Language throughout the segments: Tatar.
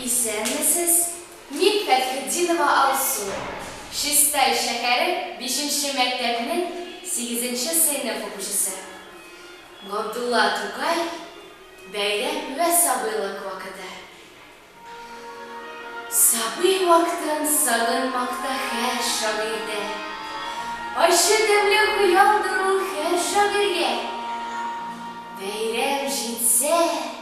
Исәнмесез, мин Фәтхетдинова Алсу. Чистай шәһәре бишенче мәктәпнең сигезенче сыйныф укучысы. Габдулла Тукай, бәйрәм вә сабыйлык вакыты. Сабый вактын сагынмакта хәр шагыйрьдә. Ачы тәмле хыялдыр ул хәр шагыйрьгә. Бәйрәм җитсә.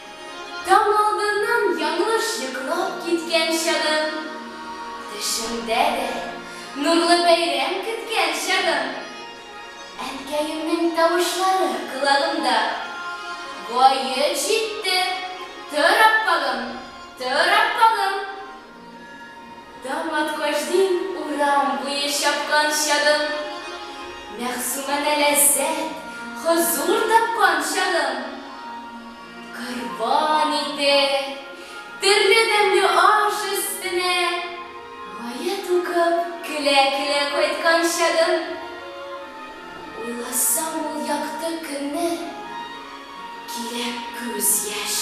Таң алдыннан яңлыш йоклап киткән чагым, Төшемдә дә нурлы бәйрәм көткән чагым, Әнкәемнең тавышлары колагымда, Гает җитте, тор, аппагым, тор, аппагым! Таң аткач диң урам буе чапкан чагым, Мәгъсүмәдә ләззәт, хозур тапкан чагым. Корбан ите, төрле тәмле аш өстенә Гая тукып, көлә-көлә кайткан чагым. Уйласам ул якты көнне, килә күз яшь.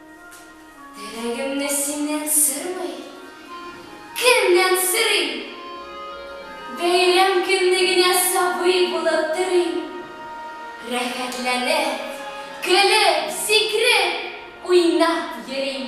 Теләгемне синнән сорый. Кемнән сорыйм? Бәйрәм көнне генә сабый булып торыйм. Рәхәтләнеп, көлеп, сикреп, уйнап йөрим.